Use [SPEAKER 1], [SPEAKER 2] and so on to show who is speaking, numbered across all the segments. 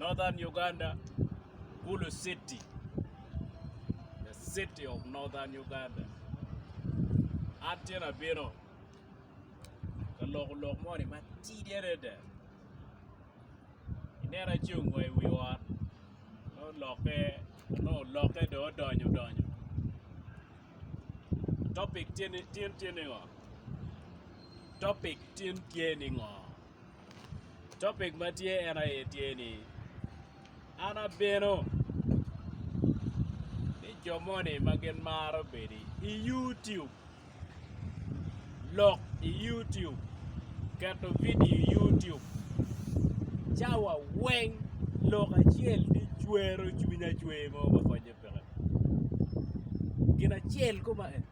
[SPEAKER 1] Northern Uganda, Gulu City, the city of Northern Uganda. An tye nabino ka loko lok moni matidi adada. Ineno ci ongo i wi ot, olokke, onongo olokke dong odonyo odonyo. Topic tin tye ni ngo? Topic tin tye ni ngo? Topic ma tye en aye tye ni an abino ni jo moni ma gin maro bedo i YouTube lok i YouTube keto vidio i YouTube cawa weng lok acel ni cwero cwiny acwer mo ma konyo peke gin acel koma en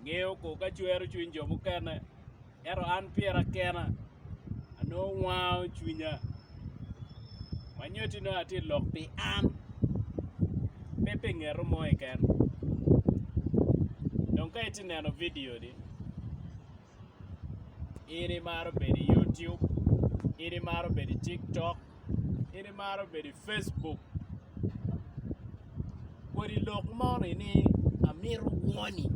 [SPEAKER 1] Ngeyo kor ka cwero cwiny jo mukene, ento an pyera kena anongo wango cwinya. Ma nyoti nongo atye lok pi an, pe pi ngeto mo keken. Dong ka itye neno vidio ni. in imaro bedo i YouTube, in imaro bedo i TikTok, in imaro bedo i Facebook. Kodi lok moni ni amito woni,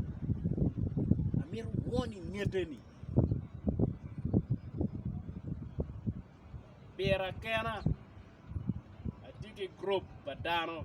[SPEAKER 1] amito woni ngete-ni. Pira kena atye ki gurup pa dano.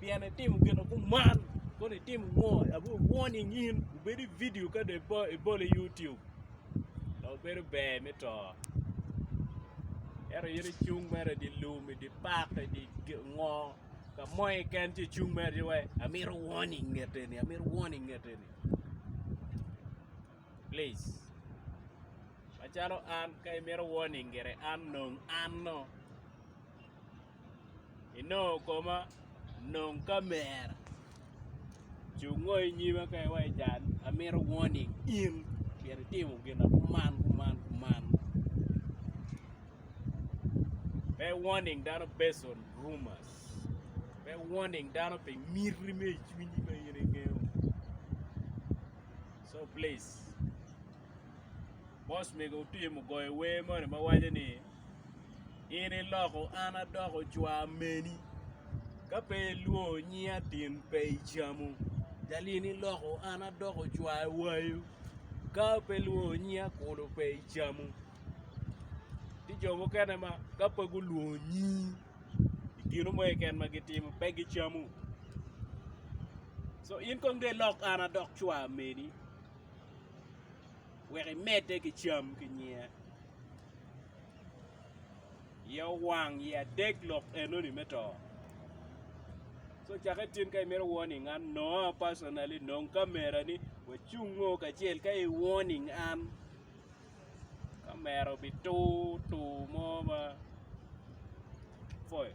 [SPEAKER 1] pien itimo gin kuman kono itimo ngo abor warning in obedo i video ka dong ibolo i YouTube dong bedo ber me to ento in icung mere idi lum idi park idi ngo ka mo keken ci icung mere ci wai amito warning nget eni amito warning nget eni please macalo an ka imito warning gire an nong anno inongo koma nong kamera ci wungo i nyima ka iwaci cal amito warning in myero itimo gin akuman kuman kuman pe warning dano based on rumors pe warning dano pi miti me icwinyi ma in ingeyo so please. Bos mege Otim ogoyo wer moni ma waco ni, In iloko an adoko cwar meni, Ka pe ilwongo nyinga tin pe icamu. Jal In iloko an adoko cwar wayu, Ka pe ilwongo nyinga kulu pe icamu. Tye jo mukene ma ka pe gulwongo nyingi i gin mo keken ma gitimo pe gicamu. So in kong dong ilok an adok cwar meni. wek imedde ki cam ki nyinge. Ye owang ye adek lok enoni me to. So cake tin ka imito warning an Noah personally nong camera ni wacung ngo kacel ka i warning an camera obi tur tur mo ma foyo.